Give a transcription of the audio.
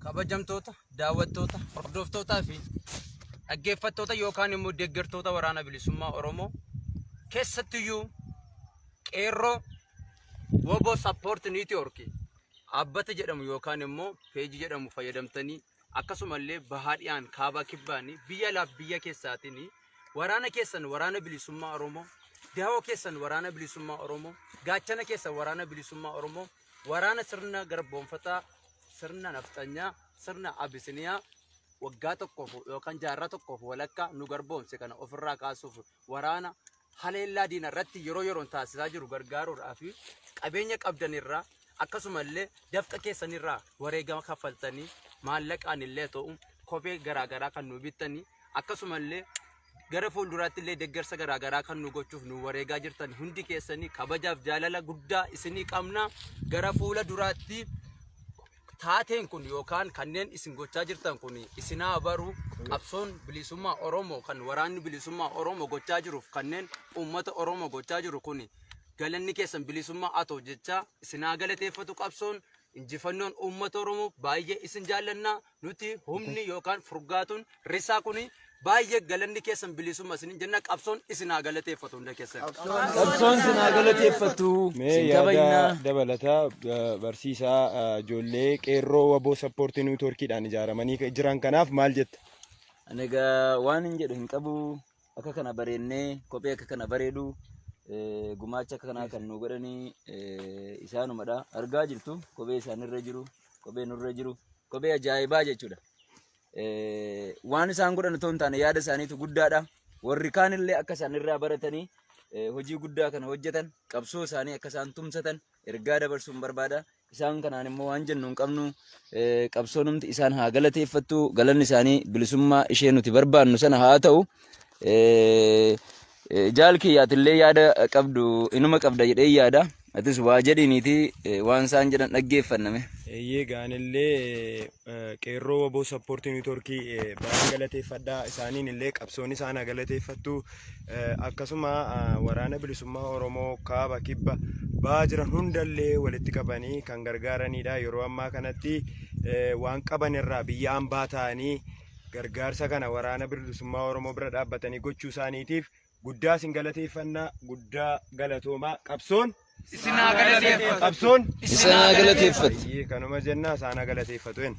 Kabajamtoota, daawwattoota, hordoftootaa fi dhaggeeffattoota yookaan immoo deeggartoota waraana bilisummaa Oromoo keessattiyyuu qeerroo Wobo Support Network dhaabbata jedhamu yookaan immoo peejii jedhamu fayyadamtanii akkasumallee bahaa dhiyaan kaabaa kibbaanii biyya laaf biyya keessaatiin waraana keessan waraana bilisummaa Oromoo dahoo keessan waraana bilisummaa Oromoo gaachana keessan waraana bilisummaa Oromoo waraana sirna garboomfataa, sirna nafxanyaa, sirna abisiniyaa waggaa tokkoof yookaan jaarraa tokkoof walakkaa nu garboomse kana ofirraa kaasuuf waraana haleellaa diina irratti yeroo yeroon taasisaa jiru gargaaruudhaa fi qabeenya qabdanirraa akkasumallee dafqa keessanirraa wareegama kaffaltanii maallaqaan illee ta'u kophee garaagaraa kan nu bittanii akkasumallee gara fuulduraatti illee deeggarsa garaa garaa kan nu gochuuf nu wareegaa jirtan hundi keessanii kabajaaf jaalala guddaa isinii qabna gara fuula duraatti taateen kun yookaan kanneen isin gochaa jirtan kun isinaa baru qabsoon bilisummaa Oromoo kan waraanni bilisummaa Oromoo gochaa jiruuf kanneen uummata Oromoo gochaa jiru kun galanni keessan bilisummaa atoo jechaa isinaa galateeffatu qabsoon injifannoon uummata Oromoo baay'ee isin jaallannaa Nuti humni yookaan furgaatuun risaa kuni baay'ee galanni keessan bilisummaa isinin jenna qabsoon isin haa galateeffatu hunda keessan. Qabsoon isin haa galateeffatu. Mee Isin yaada kabajnaa. dabalataa eh, barsiisaa eh, ijoollee qeerroo waboo sappoortii niwutoorkiidhaan ijaaramanii jiran kanaaf maal jetta? Ani egaa waan hin jedhu hin qabu. Akka kana bareennee kophee akka kana bareedu gumaacha akka kanaa kan nu godhanii isaanumadha. Argaa jirtu kophee isaanirra jiru, kophee nurra jiru, kophee ajaa'ibaa jechuudha. Waan isaan godhan otoo hin taane yaada isaaniitu guddaadha. Warri kaanillee akka isaanirraa baratanii hojii guddaa kana hojjetan qabsoo isaanii akka isaan tumsatan ergaa dabarsuun barbaada. Isaan kanaan immoo waan jennu hin qabnu qabsoonumti isaan haa galateeffattu galanni isaanii bilisummaa ishee nuti barbaannu sana haa ta'u. Jaal kiyyaatillee yaada qabdu inuma qabda jedhee yaada. Atis waa jedhiniiti waan isaan jedhan dhaggeeffanname. Eeyyee gaanillee qeerroo waboo sappoortii niitoorkii baay'ee galateeffadhaa isaaniin illee qabsoon isaan galateeffattu akkasuma waraana bilisummaa oromoo kaaba kibba ba'aa jiran hundallee walitti qabanii kan gargaaranidha yeroo ammaa kanatti waan qaban irraa biyya ambaa ta'anii gargaarsa kana waraana bilisummaa oromoo bira dhaabbatanii gochuu isaaniitiif Guddaa isin galateeffanna guddaa galatoomaa qabsoon Isin haa galateeffatu. qabsoon Isin haa galateeffatu. Baay'ee kanuma jenna isaan haa galateeffatu jenna.